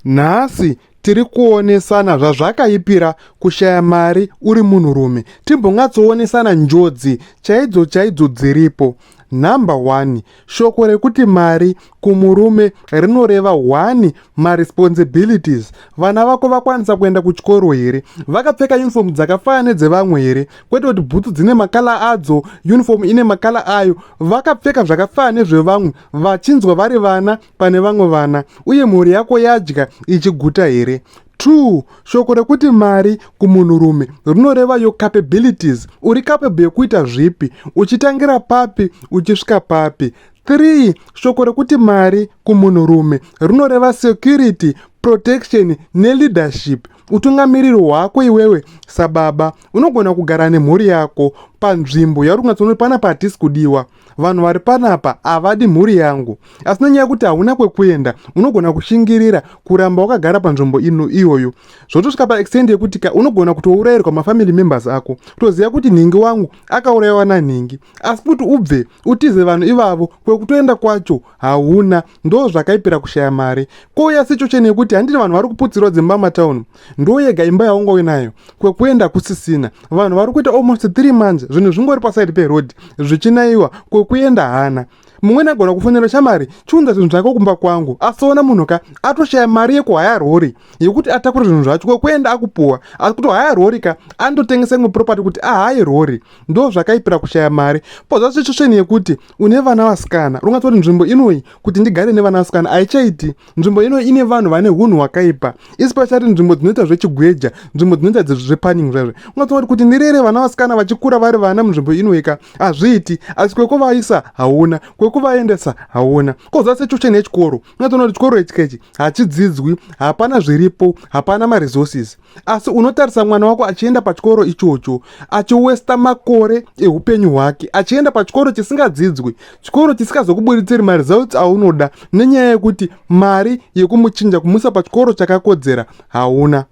Nhasi tiri kuonesana zvazvakaipira kushaya mari uri munhurume. Timbonyatsoonesana njodzi chaidzo chaidzo dziripo. Number one, shoko rekuti mari kumurume rinoreva one maresponsibilities. Vana vako vakwanisa kuenda kuchikoro here? Vakapfeka uniform dzakafanana nedzevamwe here? Kwete kuti bhutsu dzine makala adzo, uniform ine makala ayo. Vakapfeka zvakafanana nezvevamwe vachinzwa vari vana pane vamwe vana uye mhuri yako yadya ichiguta here two shoko rekuti mari kumunhurume rinoreva your capabilities uri capable yekuita zvipi uchitangira papi uchisvika papi three shoko rekuti mari kumunhurume rinoreva security protection neleadership utungamiriri hwako iwewe sababa unogona kugara nemhuri yako panzvimbo yauri kunatsoona kuti pana patisi kudiwa vanhu vari panapa havadi mhuri yangu asi nenyaya yekuti hauna kwekuenda unogona kushingirira kuramba wakagara panzvimbo ino iyoyo zvotosvika paextend yekuti ka unogona kutourayirwa mafamily members ako kutoziva kuti nhingi wangu akaurayiwa nanhingi asi kuti ubve utize vanhu ivavo kwekutoenda kwacho hauna ndo zvakaipira kushaya mari kouya situation yekuti handiti vanhu vari kuputsirwa dzimba matown ndo yega imba yaunga uinayo kwekuenda kusisina vanhu vari kuita almost 3 months zvinhu zvingori paside peroad zvichinaiwa kwekuenda hana mumwe nagona kufonera shamari chiunza zvinhu zvake kumba kwangu asoona munhu ka atoshaya mari yekuhaya rori yekuti atakure zvinhu zvacho kwekuenda akupuwa asi kuti haya rori ka andotengesa imwe property kuti ahaye rori ndo zvakaipira kushaya mari pozva situation yekuti une vana vasikana rungatori nzvimbo inoi kuti ndigare nevana vasikana haichaiti nzvimbo inoi ine vanhu vane hunhu hwakaipa isi pachati nzvimbo dzinoita zvechigweja nzvimbo dzinoita zvepanning zvaizvo ungatori kuti ndirere vana vasikana vachikura vari vana munzvimbo inoika hazviiti asi kwekuvaisa hauna kwekuvaendesa hauna koza situation yechikoro ungatori kuti chikoro ichikechi hachidzidzwi hapana zviripo hapana maresources asi unotarisa mwana wako achienda pachikoro ichocho achiwesta makore eupenyu hwake achienda pachikoro chisingadzidzwi chikoro chisikazokuburitsiri maresults aunoda nenyaya yekuti mari yekumuchinja kumusa pachikoro chakakodzera hauna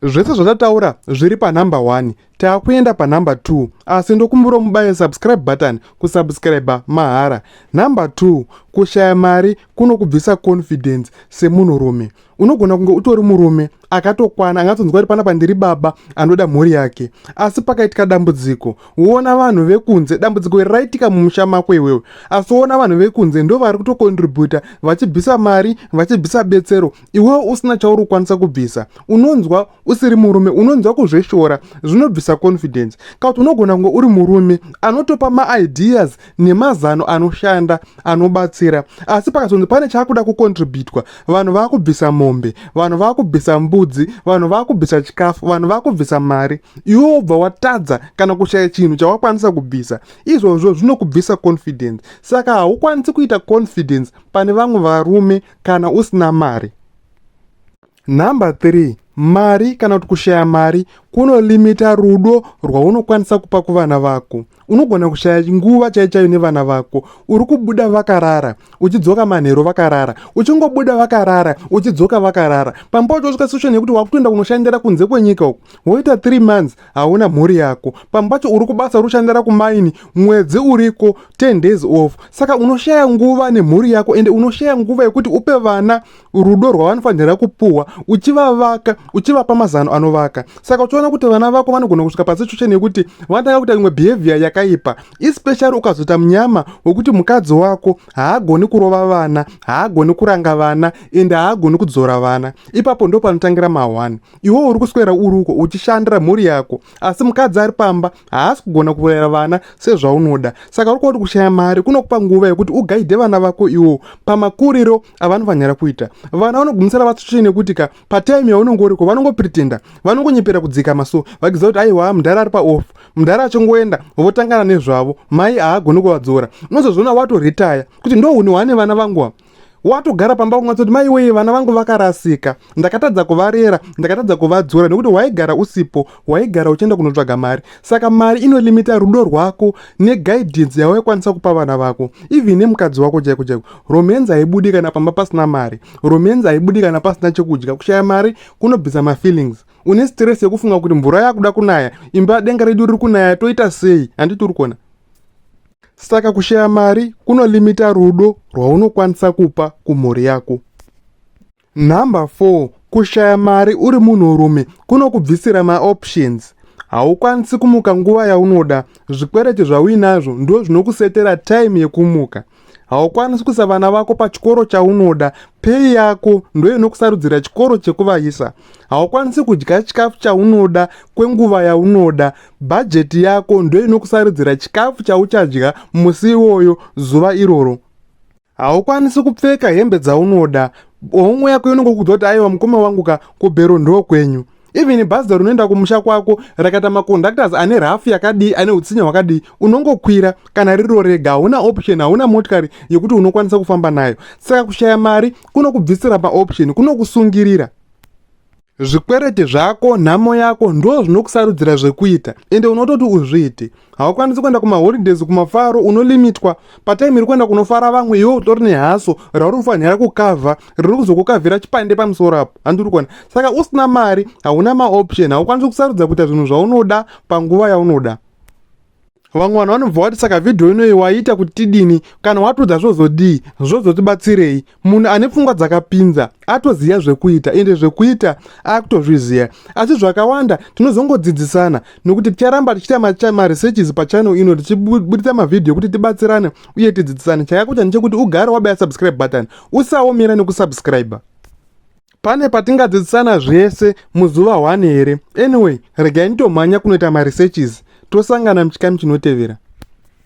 zvese zvatataura zviri panumber one Takuenda pa number 2 asi ndokumbura umubaye subscribe button kusubscriber mahara. Number 2 kushaya mari kunokubvisa confidence semunhu rume. Unogona kunge utori murume akatokwana angatonzwa kuti panapa ndiri baba anoda mhuri yake asi pakaitika dambudziko woona vanhu vekunze dambudziko iri raitika mumusha mako iwewe asi woona vanhu vekunze ndo vari kutokontributa vachibvisa mari vachibvisa betsero iwewe usina chauri kukwanisa kubvisa unonzwa usiri murume unonzwa kuzveshora zvinobvisa confidence kauti unogona kunge uri murume anotopa maideas nemazano anoshanda anobatsira asi pakazonzi pane chaakuda kucontributwa vanhu vakubvisa mombe vanhu vakubvisa mbudzi vanhu vakubvisa chikafu vanhu vakubvisa mari iwe wobva watadza kana kushaya chinhu chawakwanisa kubvisa izvozvo zvinokubvisa confidence saka haukwanisi kuita confidence pane vamwe varume kana usina mari Number 3 mari kana kuti kushaya mari kunolimita rudo rwaunokwanisa kupa kuvana vako unogona kushaya nguva chaichaiyo nevana vako uri kubuda vakarara uchidzoka manhero vakarara uchingobuda vakarara uchidzoka vakarara pamba uchosvika situation yekuti wakutoenda kunoshandira kunze kwenyika uku woita 3 months hauna mhuri yako pamba pacho uri kubasa uri kushandira kumaini mwedzi uriko 10 days off saka unoshaya nguva nemhuri yako ende unoshaya nguva yekuti upe vana rudo rwavanofanira kupuhwa uchivavaka uchivapa mazano anovaka saka uchiona kuti vana vako vanogona kusvika pasituation yekuti vanotanga kuita imwe behavior yakaipa especially ukazoita munyama wekuti mukadzi wako haagoni kurova vana haagoni kuranga vana and haagoni kudzora vana ipapo ndo panotangira mahwani iwewo uri kuswera uri uko uchishandira mhuri yako asi mukadzi ari pamba haasi kugona kuuraya vana sezvaunoda saka uri kuva kuti kushaya mari kunokupa nguva yekuti ugaidhe vana vako iwo pamakuriro avanofanira kuita vana vanogumisira vatsutsvei nekuti ka pataimi yaunenge uriko vanongopretenda vanongonyepera kudzikama so vakiziva kuti aiwa mudhara ari paoff mudhara achingoenda votangana nezvavo mai haagoni kuvadzora unozozviona watoretaya kuti ndo une wane vana vangu watogara pamba kungatsoti mai weye vana vangu vakarasika ndakatadza kuvarera ndakatadza kuvadzora nekuti waigara usipo waigara uchienda kunotsvaga mari saka mari inolimita rudo rwako neguidance yawaikwanisa kupa vana vako even nemukadzi wako chaiko chaiko romance haibudi kana pamba pasina mari romance haibudi kana pasina chekudya kushaya mari kunobvisa mafeelings une stress yekufunga kuti mvura yakuda kunaya imba denga redu riri kunaya toita sei handiti uri kuona Saka kushaya mari kunolimita rudo rwaunokwanisa kupa kumhuri yako. Number 4 kushaya mari uri munhurume kunokubvisira maoptions haukwanisi kumuka nguva yaunoda zvikwereti zvauinazvo ndo zvinokusetera time yekumuka haukwanisi kuisa vana vako pachikoro chaunoda pei yako ndo inokusarudzira chikoro chekuvayisa haukwanisi kudya chikafu chaunoda kwenguva yaunoda Bhajeti yako ndiyo inokusaridzira chikafu chauchadya musi iwoyo, zuva iroro. Haukwanisi kupfeka hembe dzaunoda. Homwe yako inongokudza kuti aiwa mukoma wangu ka kubhero ndo kwenyu. Even bhazi rinoenda kumusha kwako rakaita maconductors ane rafu yakadii ane utsinye hwakadii unongokwira kana riro rega hauna option hauna motikari yekuti unokwanisa kufamba nayo saka kushaya mari kunokubvisira maoption kunokusungirira zvikwereti zvako nhamo yako ndo zvinokusarudzira zvekuita ende unototi uzviite haukwanisi kuenda kumaholidays kumafaro unolimitwa patime iri kuenda kunofara vamwe iwe utori nehaso rauri kufanira kukavha riri kuzokukavhira chipande pamusoro apo handiri kuona saka usina mari hauna maoption haukwanisi kusarudza kuita zvinhu zvaunoda panguva yaunoda vamwe vanhu vanobva wati saka vhidhiyo inoyi waiita kuti tidini kana watoda zvozodii zvozotibatsirei munhu ane pfungwa dzakapinza atoziva zvekuita ende zvekuita akutozviziva asi zvakawanda tinozongodzidzisana nokuti ticharamba tichiita maresearches pachannel ino tichiburitsa mavhidhiyo ekuti tibatsirane uye tidzidzisane chakakosha ndechekuti ugare wabaya subscribe button usaomera nekusubscribe pane patingadzidzisana zvese muzuva one here anyway regai nditomhanya kunoita maresearches tosangana muchikamu chinotevera